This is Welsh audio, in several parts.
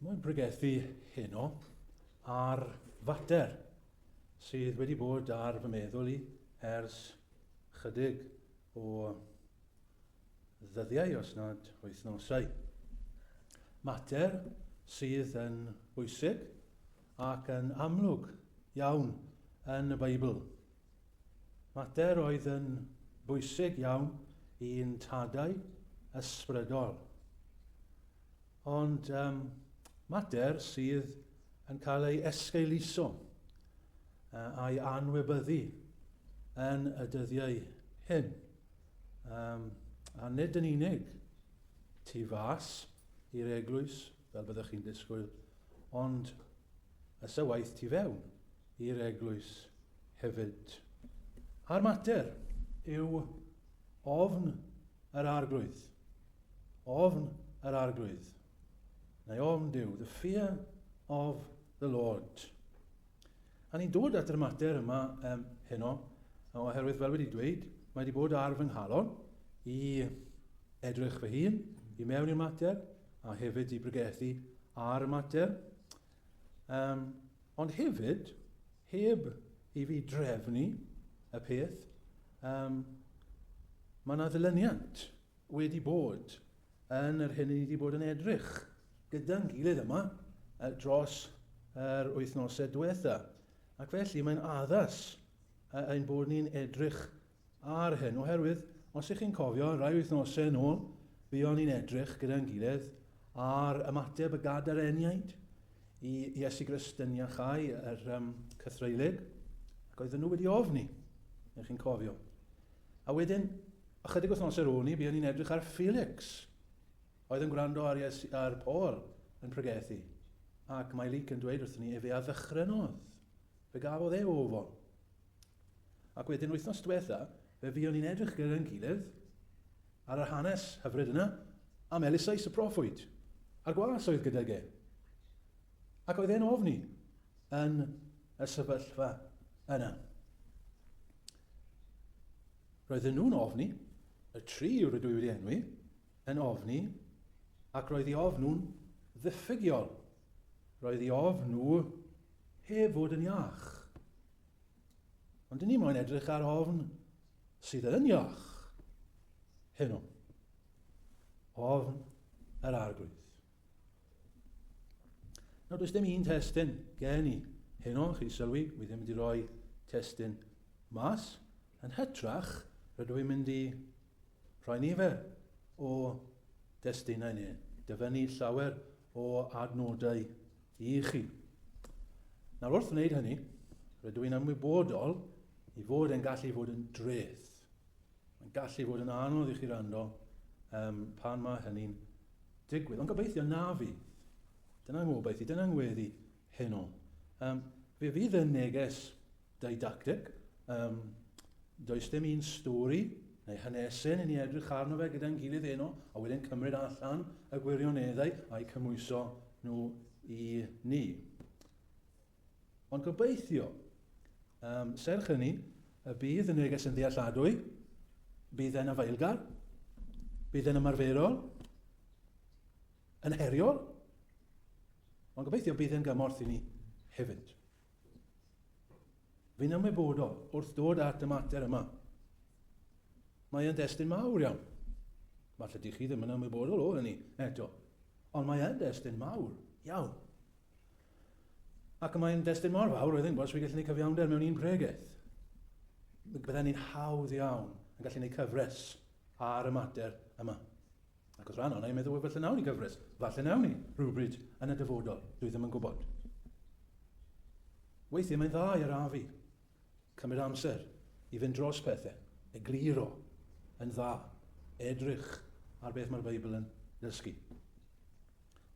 Mae'n pregethu heno ar fater sydd wedi bod ar fy meddwl i ers chydig o ddyddiau, os nad wythnosau. Mater sydd yn bwysig ac yn amlwg iawn yn y Beibl, Mater oedd yn bwysig iawn i'n tadau ysbrydol. Ond um, mater sydd yn cael ei esgeuluso uh, a'i anwybyddu yn y dyddiau hyn. Um, a nid yn unig tu fas i'r eglwys, fel byddwch chi'n disgwyl, ond a sawaeth tu fewn i'r eglwys hefyd. A'r mater yw ofn yr arglwydd. Ofn yr arglwydd. Neu ofn Duw, the fear of the Lord. A ni'n dod at yr mater yma um, heno, oherwydd fel wedi dweud, mae wedi bod ar fy nghalon i edrych fy hun i mewn i'r mater, a hefyd i bregethu ar y mater. Um, ond hefyd, heb i fi drefnu y peth, um, mae yna ddylyniant wedi bod yn yr hyn i ni wedi bod yn edrych gyda'n gilydd yma dros yr wythnosau diwetha. Ac felly mae'n addas ein bod ni'n edrych ar hyn oherwydd, os ych chi'n cofio, rai wythnosau yn ôl, buon ni'n edrych gyda'n gilydd ar ymateb y gadareniaid i Iesu Grist yn iachau yr um, cythreulig, ac oedden nhw wedi ofni, ych chi'n cofio. A wedyn, ychydig wythnosau ar ôl ni, buon ni'n edrych ar Felix, oedd yn gwrando ar, Iesu, ar Paul yn pregethu. Ac mae Luke yn dweud wrthyn ni, efe a ddychrenodd, fe gafodd e ofon. Ac wedyn wythnos diwetha, fe fuon ni'n edrych gyda'n gilydd ar yr hanes hyfryd yna am Eliseis y proffwyd, a'r gwas oedd gydag e. Ac oedd e'n ofni yn y sefyllfa yna. Roedden nhw'n ofni, y tri rydw i wedi enwi, yn ofni, ac roedd ei ofn nhw'n ddiffygiol. Roedd ei ofn nhw heb fod yn iach. Ond dyn ni moyn edrych ar ofn sydd yn iach heno. Ofn yr arglwydd. Nawr, does dim un testyn gen i heno, chi sylwi, wy ddim wedi rhoi testyn mas. Yn hytrach, rydw i'n mynd i rhoi nifer o destunau neu dyfynnu llawer o adnodau I chi. Nawr wrth wneud hynny, rydw i'n ymwybodol i fod e'n gallu fod yn dreth. Mae'n gallu fod yn anodd i chi rando um, pan mae hynny'n digwydd. Ond gobeithio na fi. Dyna ngobaith i, dyna ngweddi heno. Um, fe fydd y neges Didacteg, Yym, does dim un stori neu hanesyn i ni edrych arno fe gyda'n gilydd heno a wedyn cymryd allan y gwirioneddau a'u cymwyso nhw i ni. Ond gobeithio, um, serch hynny, y bydd y neges yn ddealladwy, bydd e'n afaelgar, bydd e'n ymarferol, yn heriol, ond gobeithio bydd e'n gymorth i ni hefyd. Fi'n ymwybodol wrth ddod at y mater yma. Mae e'n destun mawr iawn. Falle di chi ddim yn ymwybodol o hynny eto. Ond mae e'n destun mawr iawn. Ac mae'n destun mor fawr, roedd yn gwrs, fi gallu gwneud cyfiawnder mewn un pregeth. Byddai'n un hawdd iawn yn gallu gwneud cyfres ar y mater yma. Ac oedd rhan o'na yn meddwl, wel falle nawn ni gyfres, falle nawn ni rhywbryd yn y dyfodol, dwi ddim yn gwybod. Weithiau mae'n dda i arafu, cymryd amser i fynd dros pethau, egluro yn dda, edrych ar beth mae'r Beibl yn dysgu.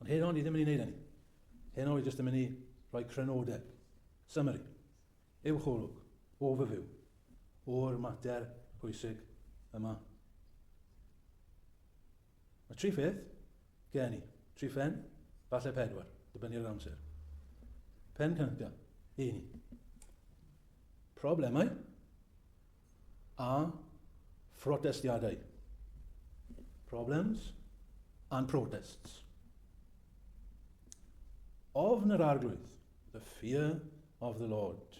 Ond heno ni ddim yn ei wneud hynny. Heno ni jyst yn mynd i rhoi crynodeb, summary, Ewch olwg, overview, o'r mater pwysig yma. Mae tri pheth gen i. Tri phen, falle pedwar, dibynnu ar yr amser. Pen cyntaf, un. Problemau. a phrotestiadau. Problems and protests. Ofn yr arglwydd, the fear of the Lord.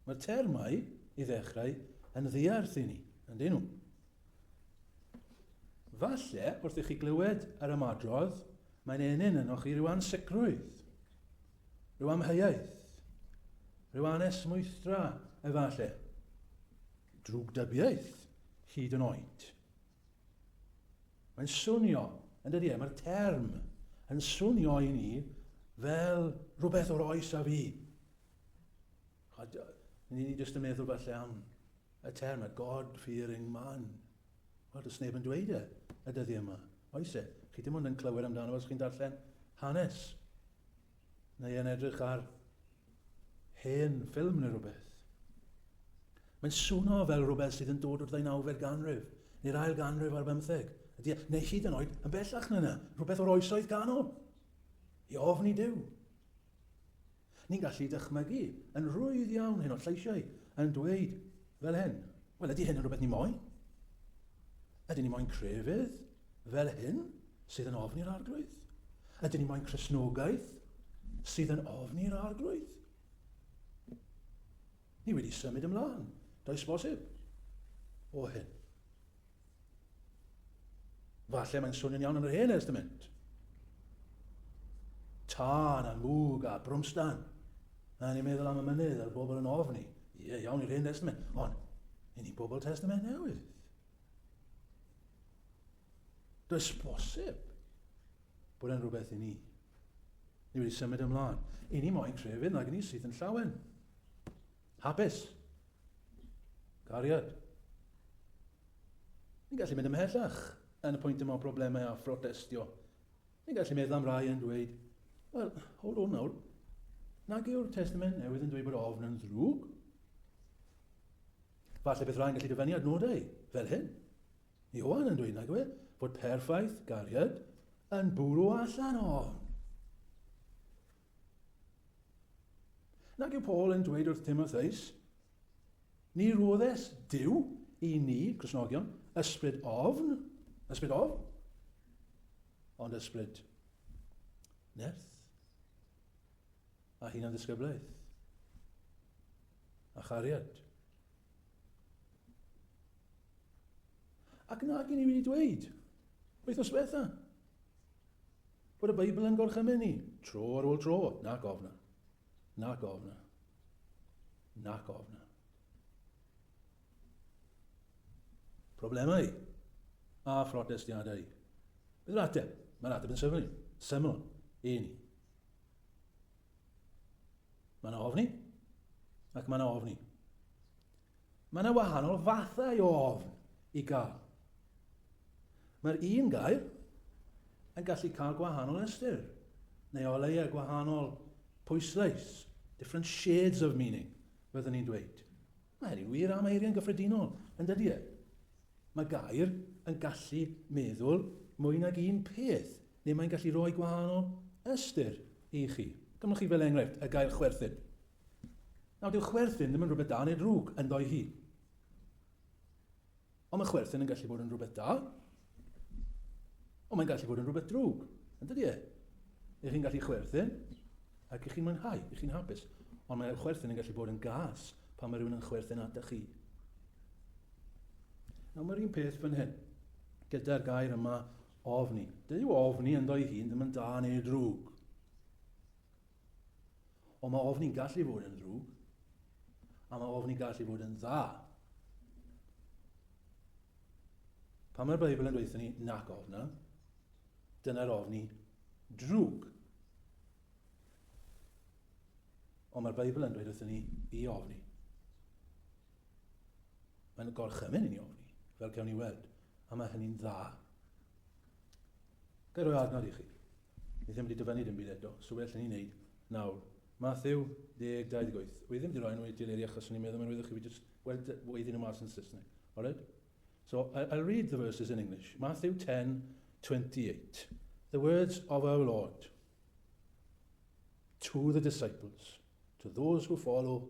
Mae'r termau i ddechrau yn ddiarth i ni, yn dyn nhw. Falle, wrth i chi glywed yr ymadrodd, mae'n enyn yno chi rhyw ansicrwydd. Rhyw amheuaeth? Rhyw anesmwythdra, efallai? Drwgdybiaeth, hyd yn oed? Mae'n swnio, yn dydy e, mae'r term yn swnio i ni fel rhywbeth o'r oes a fi. Ni ni jyst yn meddwl falle am y term a God-fearing man. Wel, does neb yn dweud e y dyddi yma. Oes e? Chi dim ond yn clywed amdano os chi'n darllen hanes. Neu yn edrych ar hen ffilm neu rhywbeth. Mae'n swno fel rhywbeth sydd yn dod o'r ddeunawfed ganrif, neu'r ail ganrif ar bymtheg, e? neu hyd yn oed yn bellach na yna, rhywbeth o'r oesoedd canol, i ofni Dyw. Ni'n gallu dychmygu yn rwydd iawn hyn o'r lleisiau yn dweud fel hyn, wel ydy hyn yn rhywbeth ni moyn? Ydyn ni moyn crefydd? fel hyn sydd yn ofn i'r Arglwydd? Ydyn ni moyn Cresnogaeth sydd yn ofn i'r Arglwydd? Ni wedi symud ymlaen, does bosib, o hyn. Falle mae'n swnio'n iawn yn yr Hen Estament. Tân a mwg a brwmstan. A ni'n meddwl am y mynydd a'r bobl yn ofni. Ie, iawn i'r Hen Estament. Ond, i ni bobl Testament newydd. Does bosib bod e'n rhywbeth i ni. Ni wedi symud ymlaen. I ni moyn crefydd nag i ni sydd yn llawen. Hapus. Cariad. Ni'n gallu mynd ymhellach yn y pwynt yma o broblemau a phrotestio Ni'n gallu meddwl am rai yn dweud, Wel, hold on nawr, nag yw'r Testament Newydd yn dweud bod ofn yn ddrwg? Falle beth rhaid gallu dyfynnu adnodau fel hyn. Iowan yn dweud nag yw e, bod perffaith gariad yn bwrw allan ofn. Nag yw Paul yn dweud wrth Timotheus, Ni roddes Dyw i ni, Cresnogion, ysbryd ofn, ysbryd ofn, ond ysbryd nerth a hunan ddisgyblaeth a chariad. Ac nag i ni wedi dweud, wythnos bethau, Bod y Beibl yn gorchymyn ni, tro ar ôl tro, nac ofna. Nac ofna. Nac ofna. Problemau a phrotestiadau. Beth yw'r ateb? Mae'r ateb yn syml. Syml. E ni. Mae yna ofni, ac mae yna ofni. Mae yna wahanol fathau o ofn i gael. Mae'r un gair yn gallu cael gwahanol ystyr, neu o leia gwahanol pwyslais, different shades of meaning, fyddwn ni'n dweud. Mae hynny'n wir am eiriau'n gyffredinol, yn dydy e? Mae gair yn gallu meddwl mwy nag un peth, neu mae'n gallu rhoi gwahanol ystyr i chi. Dyma chi fel enghraifft y gair chwerthin. Nawr, dyw chwerthin ddim yn rhywbeth da neu drwg, ynddo ei hun. Ond mae chwerthin yn gallu bod yn rhywbeth da, ond mae'n gallu bod yn rhywbeth drwg, yn dydy e? Ych chi'n gallu chwerthin, ac ych chi'n mwynhau, ych chi'n hapus. Ond mae'r chwerthin yn gallu bod yn gas pan mae rhywun yn chwerthin ata chi. Nawr mae'r un peth fan hyn, gyda'r gair yma ofni. Dyw ofni yn ddo'i hun ddim yn da neu drwg. Ond mae ofni'n gallu fod yn ddrwg, a mae ofni'n gallu fod yn dda. Pan mae'r Beibl yn dweud ni nac ofna, dyna'r ofni drwg. Ond mae'r Beibl yn dweud wrthyn ni i ofni. Mae'n gorchymyn i ni ofni, fel cawn ni weld. A mae hynny'n dda. Gael rhoi adnod i chi. Ni ddim wedi dyfynnu dim byd eto, so be allwn ni wneud nawr? Mathew, 1828, Wi ddim wedi rhoi nhw i'r deleri achos o'n i'n meddwl mae'n rwyddwch chi fi just, well, weud iddyn nhw mas yn Saesneg. Alright? So, I, I'll read the verses in English. Matthew 10, 28. The words of our Lord to the disciples, to those who follow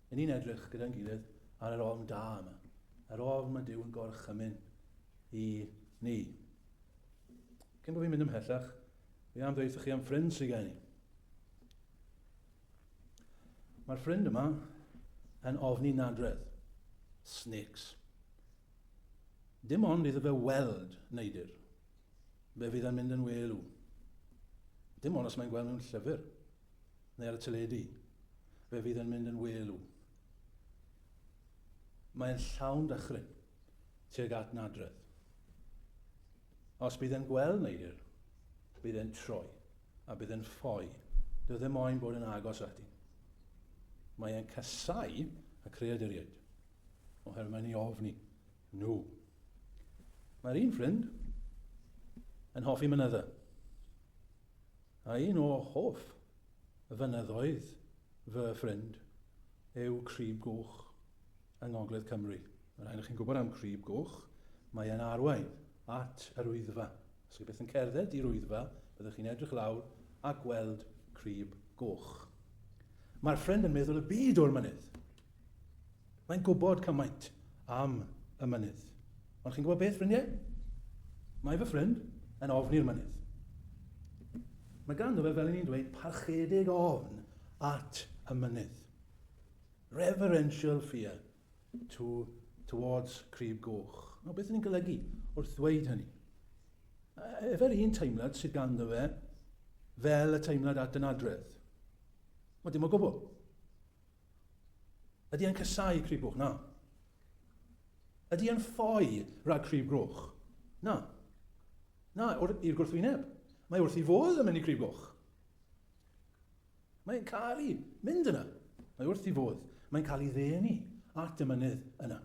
Yn ni'n edrych gyda'n gilydd ar yr ofn da yma, yr ofn mae Duw yn gorchymyn i ni. Cyn bod fi'n mynd ymhellach, fi am ddeitha chi am ffrind sy'n gen i. Mae'r ffrind yma yn ofni nadredd. Snakes. Dim ond iddo fe weld neidir. Fe fydd yn mynd yn welu. Dim ond os mae'n gweld mewn llyfr. neu ar y teledu, fe fydd yn mynd yn welu. Mae'n llawn dychryn tuag at nadredd. Os bydd yn gweld neidr, bydd yn troi a bydd yn ffoi. Dw ddim moyn bod yn agos ati. Mae e'n casau y creaduriaid, oherwydd mae'n ei ofni nhw. Mae'r un ffrind yn hoffi mynydda. a un o hoff fynyddoedd fy ffrind yw Crib Goch yng Ngogledd Cymru. Mae'n rhaid i chi'n gwybod am Crib Goch, mae e'n arwain at yr Wyddfa. Os chi byth yn cerdded i'r Wyddfa, byddwch chi'n edrych lawr a gweld Crib Goch. Mae'r ffrind yn meddwl y byd o'r mynydd. Mae'n gwybod cymaint am y mynydd. Ond chi'n gwybod beth, ffrindiau? Mae fy ffrind yn ofn i'r mynydd. Mae ganddo fe, fel i ni'n dweud, parchedig ofn at y mynydd. Reverential fear to, towards Crib Goch. No, beth ni'n golygu wrth ddweud hynny? Efer un teimlad sydd ganddo fe fel y teimlad at yn adredd. Mae dim o gwbl. Ydy e'n casáu Crib Goch? Na. Ydy e'n ffoi rhag Crib Goch? Na. Na, i'r gwrthwyneb. Mae wrth i fodd yn mynd i Crib Goch. Mae'n cael ei mynd yna. Mae wrth i fodd. Mae'n cael ei ddenu at y mynydd yna.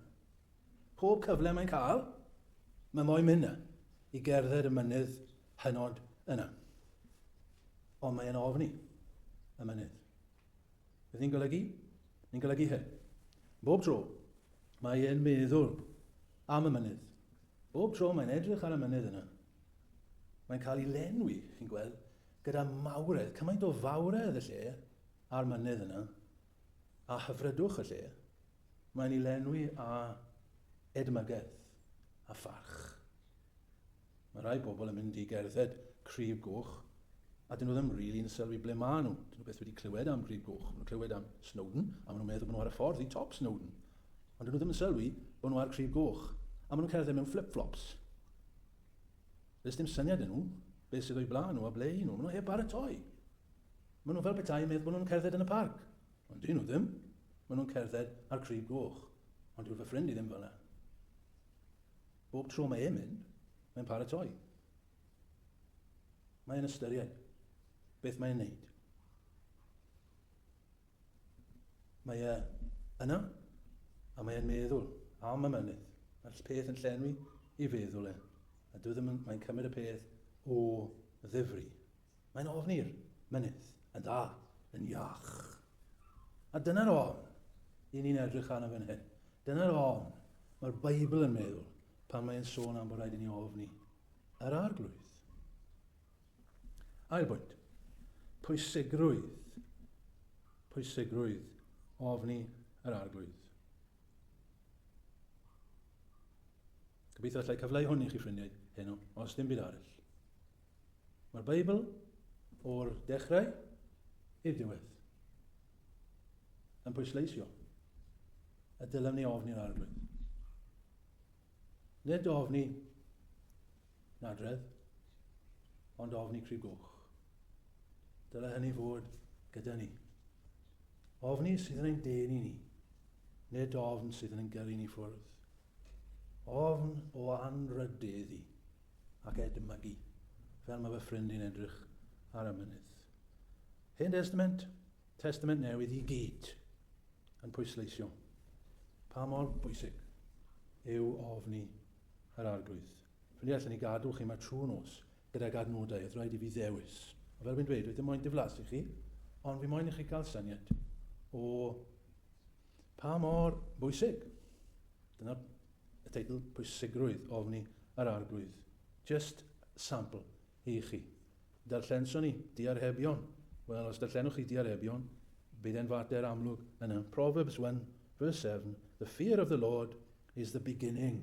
Pob cyfle mae'n cael, mae moyn mynd yna i gerdded y mynydd hynod yna. Ond mae'n ofni y mynydd. Beth ni'n golygu? Ni'n golygu hyn. Bob tro, mae e'n meddwl am y mynydd. Bob tro mae'n edrych ar y mynydd yna. Mae'n cael ei lenwi, chi'n gweld, gyda mawredd, cymaint o fawredd y lle a'r mynydd yna, a hyfrydwch y lle. Mae'n ei lenwi a edmygaeth a pharch. Mae rhai pobl yn mynd i gerdded Crib Goch a 'dyn nhw ddim rili'n sylwi ble maen nhw. 'Dyn nhw byth wedi clywed am Grib Goch. Maen nhw'n clywed am Snowdon a maen nhw'n meddwl bod nhw ar y ffordd i top Snowdon. Ond 'dyn nhw ddim yn sylwi bod nhw ar Crib Goch. A maen nhw'n cerdded mewn fflip-fflops. Does dim syniad 'da nhw beth sydd o'i blaen nhw a ble 'y nhw. Maen nhw heb baratoi. Maen nhw fel petai yn meddwl bod nhw'n cerdded yn y parc. Ond 'dyn nhw ddim. Maen nhw'n cerdded ar Crib Goch. Ond dyw fy ffrind i ddim fel 'na. Bob tro mae e'n mynd, mae'n paratoi. Mae'n ystyried beth mae'n neud. Mae e yna, a mae'n meddwl am y mynydd. Mae'r peth yn llenwi i feddwl e, a dwi ddim yn, mae'n cymryd y peth o ddifri. Mae'n ofn i'r mynydd yn dda, yn iach. A dyna'r ofn i ni'n edrych arno fan hyn. Dyna'r ofn mae'r Beibl yn meddwl pan mae'n sôn am bod rhaid i ni ofni yr arglwydd. Ail bwynt, pwysigrwydd, pwysigrwydd ofni yr arglwydd. Gobeithio allai cyfleu hwn i chi ffrindiau heno, os dim byd arall. Mae'r Beibl o'r dechrau i'r diwedd yn pwysleisio y dylem ni ofni yn arglwydd. Nid ofni nadredd, ond ofni crib goch. Dyle hynny fod gyda ni. Ofni sydd yn ein denu ni, nid ofn sydd yn ein gyrru ni ffwrdd. Ofn o anrhydeddu ac edmygu, fel mae fy ffrind i'n edrych ar y mynydd. Hen Destament, Testament Newydd i gyd yn pwysleisio pa mor bwysig yw ofni yr Arglwydd. Ffrindiau, allan ni gadw chi yma trwy nos gydag adnodau oedd rhaid i fi ddewis. A fel fi'n dweud, dwi ddim moyn diflasu chi, ond fi moyn i chi gael syniad o Pa mor bwysig? Dyna y teitl pwysigrwydd ofni yr Arglwydd. Jyst sampl i chi. Darllenson ni diarhebion. Wel, os darllenwch chi diarhebion, bydd e'n fater amlwg yna. Proverbs 1 verse 7, The fear of the Lord is the beginning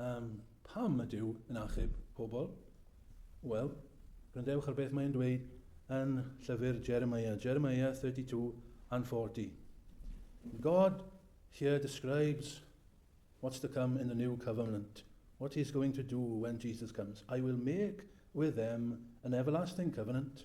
Am pam mae Duw yn achub pobl? Wel, gwrandewch ar beth mae'n dweud yn llyfr Jeremiah, Jeremiah 32 and 40. God here describes what's to come in the new covenant, what he's going to do when Jesus comes. I will make with them an everlasting covenant,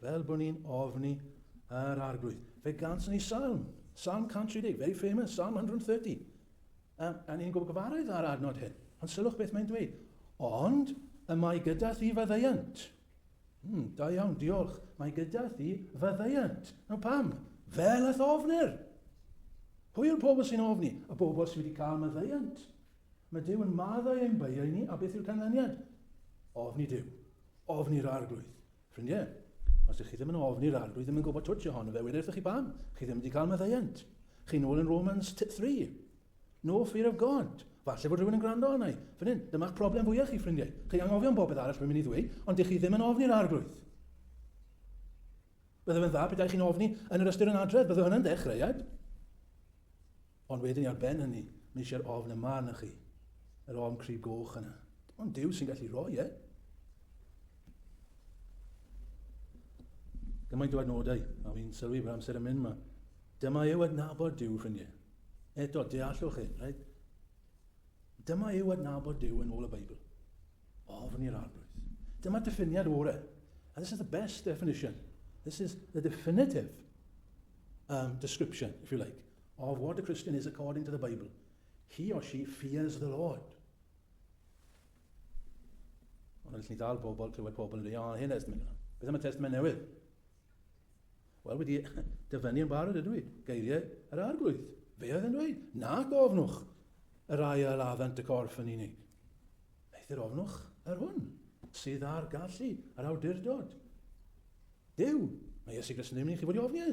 Fel bo' ni'n ofni yr Arglwydd. Fe gawson ni Salm, Salm 130, very famous, Salm 130. A, a ni'n gwybod gyfarwydd â'r adnod hyn. Ond sylwch beth mae'n dweud. Ond y mae gyda thi faddeuant. Hmm, da iawn, diolch. Mae gyda thi faddeuant. Nawr pam? Fel a'th ofnir. Pwy yw'r pobl sy'n ofni? Y bobl sydd wedi cael maddeuant. Mae Dyw yn maddau ein beiau ni, a beth yw'r canlyniad? Ofni Dyw. Ofni'r arglwydd. Ffrindiau, os ydych chi ddim yn ofni'r arglwydd ddim yn gwybod twtsh ohono fe, wedi wrthych chi bam, chi ddim wedi cael maddeuant. Chi'n ôl yn Romans 3. No fear of God. Falle bod rhywun yn gwrando arna i. Fan hyn, dyma'ch problem fwyaf chi, ffrindiau. Chi anghofio am bobeth arall rwy'n mynd i ddweud, ond dych chi ddim yn ofni'r arglwydd. Bydde fe'n dda pethau chi'n ofni yn yr ystyr yn adredd, bydde hwnna'n ddechreuad. Ond wedyn ar ben hynny, mae eisiau'r ofn yma arnoch chi, yr ofn cryf goch yna. Dim ond Duw sy'n gallu rhoi e. Gymaint o adnodau, a fi'n sylwi bod amser yn mynd yma. Dyma yw adnabod Duw, ffrindiau. Eto, deallwch hyn, right? Dyma yw adnabod Duw yn ôl y Beibl. Ofn i'r arglwydd. Dyma diffiniad ore. And this is the best definition. This is the definitive um, description, if you like, of what a Christian is according to the Bible, he or she fears the Lord. Ond allwn ni ddal pobl, clywed pobl yn dweud, o, hyn testament yna. Beth am y testament newydd? Wel, wedi dyfynnu yn barod ydw i, geiriau yr arglwydd. Fe oedd yn dweud, na gofnwch yr ail addant y corff yn unig. Eithr ofnwch yr hwn sydd ar gallu, yr awdurdod. Dyw, mae Iesu Gris yn ddim yn chi fod i ofni e.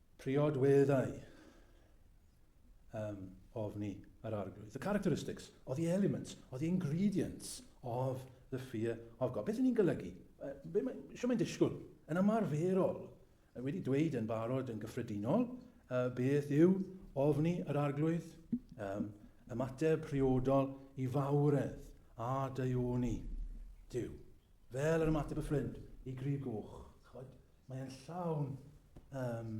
Priodweddau um, ofni yr arglwydd. The characteristics or the elements or the ingredients of the fear of God. Beth y'n ni'n golygu? Uh, be mae, sio mae'n disgwyl? Yn ymarferol, wedi dweud yn barod yn gyffredinol, uh, beth yw ofni yr arglwydd, um, ymateb priodol i fawredd a daioni Dyw. Fel yr ymateb y ffrind i grib goch. Mae e'n llawn um,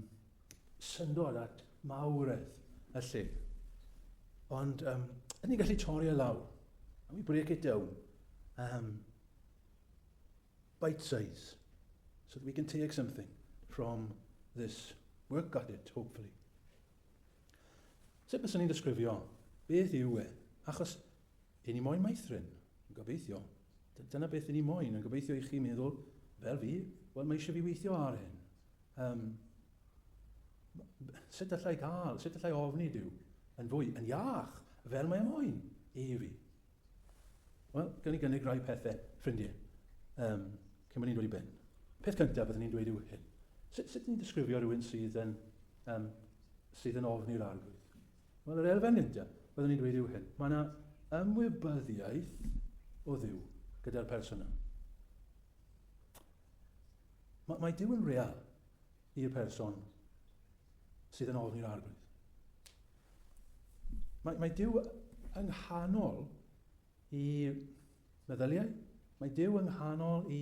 syndod at mawredd y lle. Ond um, yn ni'n gallu torri e lawr. And we break it down. Um, bite size. So that we can take something from this work at it, hopefully. Sut bys ni'n disgrifio? Beth yw e? Achos Y'n ni moyn meithrin? Gobeithio. Dyna beth y'n ni moyn, a gobeithio i chi meddwl fel fi, wel mae eisiau fi weithio ar hyn. Um, sut allai gael, sut allai ofni Dyw yn fwy, yn iach, fel mae moyn i fi? Wel, gan ni gynnig rhai pethau, ffrindiau, um, cyn bod ni'n dod i ben. Peth cyntaf byddwn ni'n dweud yw hyn. Sut, sut ni'n disgrifio rhywun sydd yn, um, sydd yn ofni'r arglwydd? Wel, yr elfen nintio, byddwn i'n dweud yw hyn, mae yna ymwybyddiaeth o Dduw gyda'r person yna. Mae, mae Duw yn real i'r person sydd yn ofni'r arglwydd. Mae, mae Dyw yng nghanol i meddyliau, mae Dyw yng nghanol i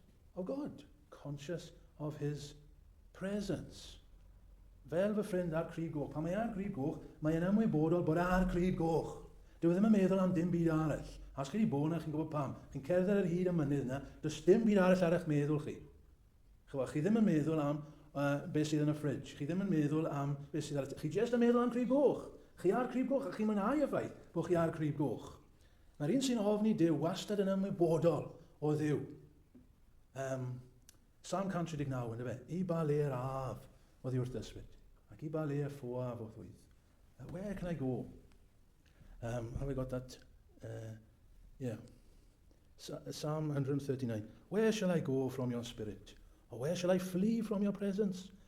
O God, conscious of His presence. Fel fy ffrind ar Crug Goch. Pan mae ar Grug Goch, mae e'n ymwybodol bod e ar Crug Goch. Dyw e ddim yn meddwl am dim byd arall. A os chi wedi bod yna, chi'n gwybod pam. Chi'n cerdded ar hyd y mynydd yna, does dim byd arall ar eich meddwl chi. Chwa, chi ddim yn meddwl am uh, beth sydd yn y ffridge. Chi ddim yn meddwl am beth sydd ar y... Chi jyst yn meddwl am Crug Goch. Chi ar Crug Goch a chi'n mwynhau y ffaith bod chi ar Crug Goch. Mae'r un sy'n ofni Duw wastad yn ymwybodol o Dduw. Um, Psalm 139, ynddo fe, i ba le yr af oedd i wrth ysbryd, ac i ba le y ffoaf o ddwydd. Uh, where can I go? Um, have I got that? Uh, yeah. Psalm 139. Where shall I go from your spirit? Or where shall I flee from your presence?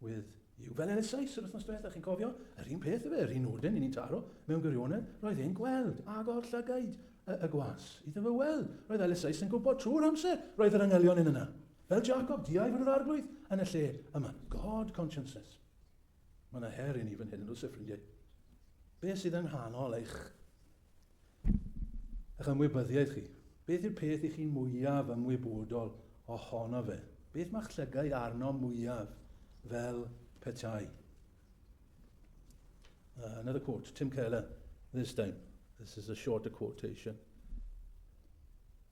With you. Fel elusais yr wythnos diwetha, chi'n cofio? Yr un peth efe, yr un nodyn i ni'n taro. Mewn gwirionedd, roedd e'n gweld, ag o'r llygaid, y, y gwas. Iddo fe weld. Roedd elusais yn gwybod trwy'r amser, roedd yr angylion yn yna. Fel Jacob, diau fod yr arglwydd yn y lle yma. God consciousness. Mae yna her i ni fan hyn yn oes e, ffrindiau? Be sydd yng nghanol eich a'ch ymwybyddiaeth chi. Beth yw'r peth i chi'n mwyaf ymwybodol ohono fe? Beth mae'ch llygaid arno mwyaf fel petai? Uh, another quote, Tim Keller, this time. This is a shorter quotation.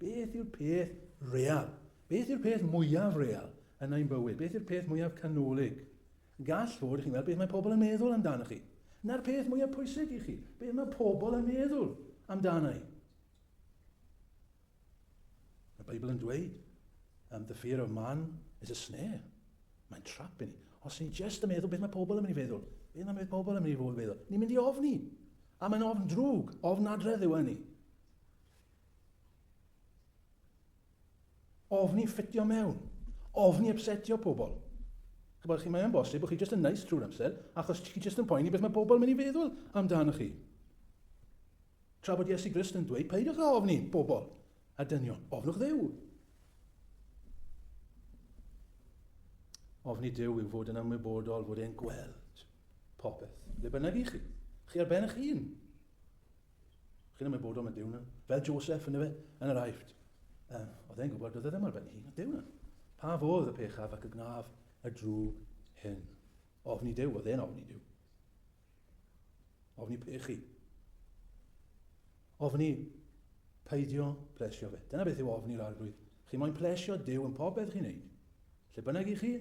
Beth yw'r peth real? Beth yw'r peth mwyaf real yn ein bywyd? Beth yw'r peth mwyaf canolig? Gall fod i chi'n meddwl beth mae pobl yn meddwl amdano chi. Na'r peth mwyaf pwysig i chi. Beth mae pobl yn meddwl amdano i? Mae Beibl yn dweud, um, the fear of man is a snare. Mae'n trap i ni. Os ni'n just yn meddwl beth mae pobl yn mynd i feddwl, beth mae pobl yn mynd i fod yn meddwl, ni'n mynd i ofni. A mae'n ofn drwg, ofn adredd yw hynny. Ofni ffitio mewn. Ofni ypsetio pobl. Chybod chi, mae'n bosib bod chi jyst yn neis nice trwy'r amser, achos chi jyst yn poeni beth mae pobl yn mynd i feddwl amdano chi. Tra bod Iesu Grist yn dweud, peidiwch â ofni pobl a dynion, ofnwch ddew. Ofni Dyw yw fod yn ymwybodol fod e'n gweld popeth, le bynnag i chi. Chi ar ben eich hun. Chi'n ymwneud bod o'n mynd diwn. Fel Joseph, yn efe, yn yr aifft. Um, oedd e'n gwybod, oedd e ddim ar ben hun, diwn. Pa fodd y pechaf ac y gnaf y drwg hyn? Ofni Dyw, oedd e'n ofni Dyw. Ofni pechu. Ofni peidio plesio fe. Dyna beth yw ofni'r arglwydd. Chi moyn plesio Dyw yn popeth chi'n neud. Lle bynnag i chi,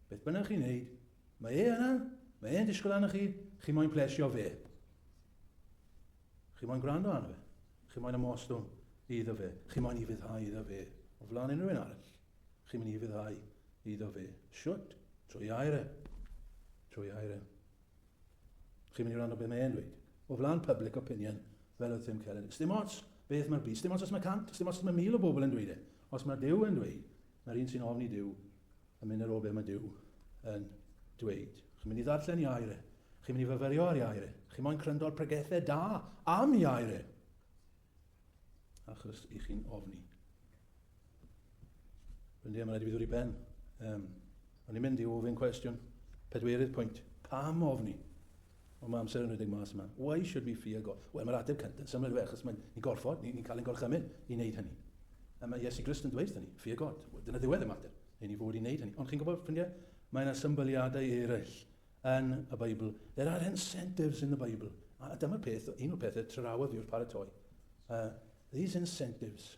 beth bynnag chi'n neud, Mae e yna, mae e'n disgwyl arnoch chi, chi moyn plesio fe. Chi moyn gwrando arno fe. Chi moyn ymostwng iddo fe. Chi moyn i fyddhau iddo fe. O flaen unrhyw un arall. Chi moyn i fyddhau iddo fe. Siwt, trwy air e. Trwy air e. Chi moyn i wrando beth mae e'n dweud. O flaen public opinion, fel oedd Tim Keller. Dim ots beth mae'r byd, dim ots os mae cant, dim ots os mae mil o bobl yn dweud e. Os mae Dyw yn dweud, Mae'r un sy'n ofn i Duw yn mynd ar ôl be mae Duw yn dweud. Chi'n mynd i ddarllen iair e. Chi'n mynd i fyfyrio ar iair e. Chi'n moyn cryndor pregethau da am iair e. Achos i chi'n ofni. Rwy'n ddim yn rhaid i fi ddod i ben. Um, O'n i'n mynd i ofyn cwestiwn, pedwerydd pwynt, pam ofni? Ond mae amser yn rhedeg mas yma. Why should we fear God? Wel, mae'r ateb cynt yn syml, achos mae'n ni gorfod, ni'n ni cael ein gorchymyn i wneud hynny. A mae Iesu Grist yn dweud hynny, fear God. Dyna ddiwedd y mater, i ni fod i wneud hynny. Ond chi'n gwybod, ffrindiau, mae yna symbyliadau eraill yn y Beibl. There are incentives in the Bible. A dyma'r peth, un o'r pethau trawodd fi wrth paratoi. Uh, these incentives,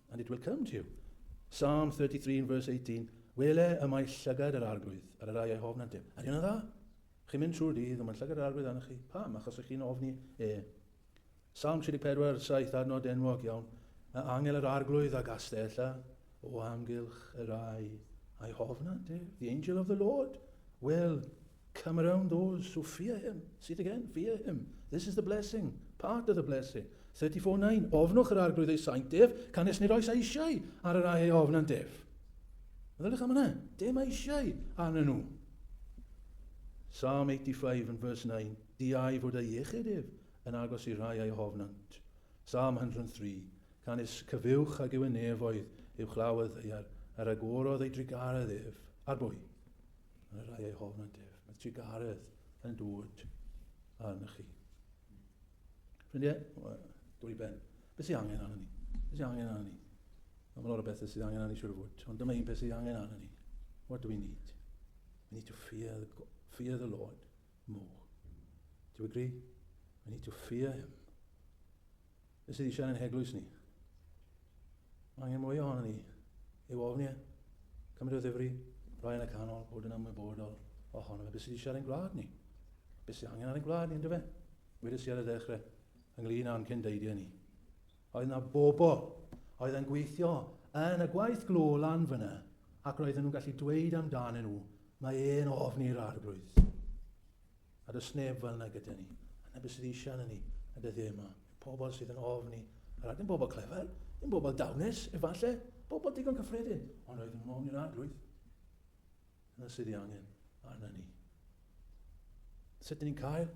And it will come to you. Psalm 33 in verse 18, Wele y mae llygad yr arglwydd ar y rai ei hofn yndym. Ydy hwnna dda? Chi'n mynd trwy'r dydd, ond mae llygad yr arglwydd arnoch chi. Pam? Achos ych chi'n ofni e. Psalm 34, 7 adnod enwog iawn. Mae angel yr arglwydd a gastella o amgylch y rai a'i hofn yndym. The angel of the Lord will Come around those who fear him, see it again, fear him, this is the blessing, part of the blessing. 34.9 Ofnwch yr arglwydd ei saint ef, canys nid oes eisiau ar yr ae ei ofn yn def. Meddyliwch am yna, dim eisiau arnyn nhw. Psalm 85 and verse 9 Diau fod ei iechyd ef yn agos i rai a'i hofnant. Psalm 103 Canys cyfiwch ag yw y nefoedd, yw chlawedd ddaear, ar agorodd ei drugaredd ef, ar bwy? Mae rhai ei hofn yn def. Mae sigaredd yn dŵd arna chi. Ffrindiau, dwy ben. Beth sy'n angen arna ni? Beth sy'n angen arna ni? Mae lot o bethau sydd angen arna ni siwr fod. Ond dyma un peth sydd angen arna ni. What do we need? We need to fear the, fear the Lord more. Do you agree? We need to fear him Be sydd eisiau ein heglwys ni? Mae angen mwy ohono ni. Ei ofn ie. Cymru o ddifri, rhoi yn y canol, bod yn ymwybodol ohono fe. Be sydd eisiau ein gwlad ni? Be sydd angen ar ein gwlad ni, ynddo fe? Wedi si ar y ddechrau, ynglyn â'n cyn deidiau ni. Oedd yna bobl oedd yn gweithio yn y gwaith glo lan fyna ac roedden nhw'n gallu dweud amdanyn nhw, mae e'n ofn i'r arglwydd. A does neb fel yna gyda ni. A na beth sydd eisiau yna ni y dyddiau yma, yw pobl sydd yn ofn i, a rhaid yn bobl clefer, yn bobl dawnus, efallai, bobl digon cyffredin, ond roedd yn ofn i'r arglwydd. Yna sydd ei angen arna ni. Sut dyn ni'n cael?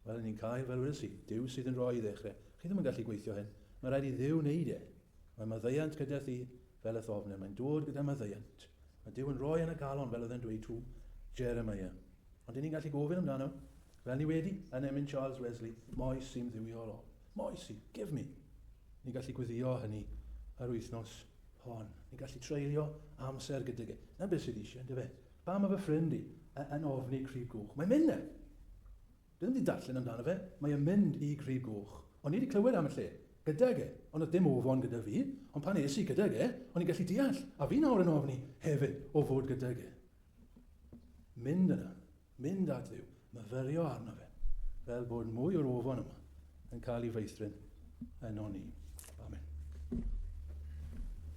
Wel, ni'n cael, fel wedi si, Dyw sydd yn rhoi i ddechrau. Chi ddim yn gallu gweithio hyn. Mae rhaid i ddiw wneud e. Mae maddeuant gyda thi fel y thofnau. Mae'n dod gyda maddeuant. Mae Duw yn rhoi yn y calon, fel oedd e'n dweud tuw Jeremiah. Ond 'yn ni'n gallu gofyn amdano, fel ni wedi yn emyn Charles Wesley, Moes i'm dduwiol o. Moes i, give me! Ni'n gallu gweddio hynny yr wythnos hon. Ni'n gallu treulio amser gydag e. Na beth sydd eisiau, yndyfe? Pam mae fy ffrind i yn ofni crib goch? Mae'n mynd 'na! Dw i 'di darllen amdano fe, mae e'n mynd i Grug Goch. O'n i 'di clywed am y lle. Gydag e. Ond oedd dim ofon gyda fi. Ond pan es i gydag e, o'n i'n gallu deall. A fi nawr yn ofni hefyd o fod gydag e. Mynd yna. Mynd at Dduw. Myfyrio arno fe. Fel bod mwy o'r ofon yma yn cael ei feithrin yno ni. Amen.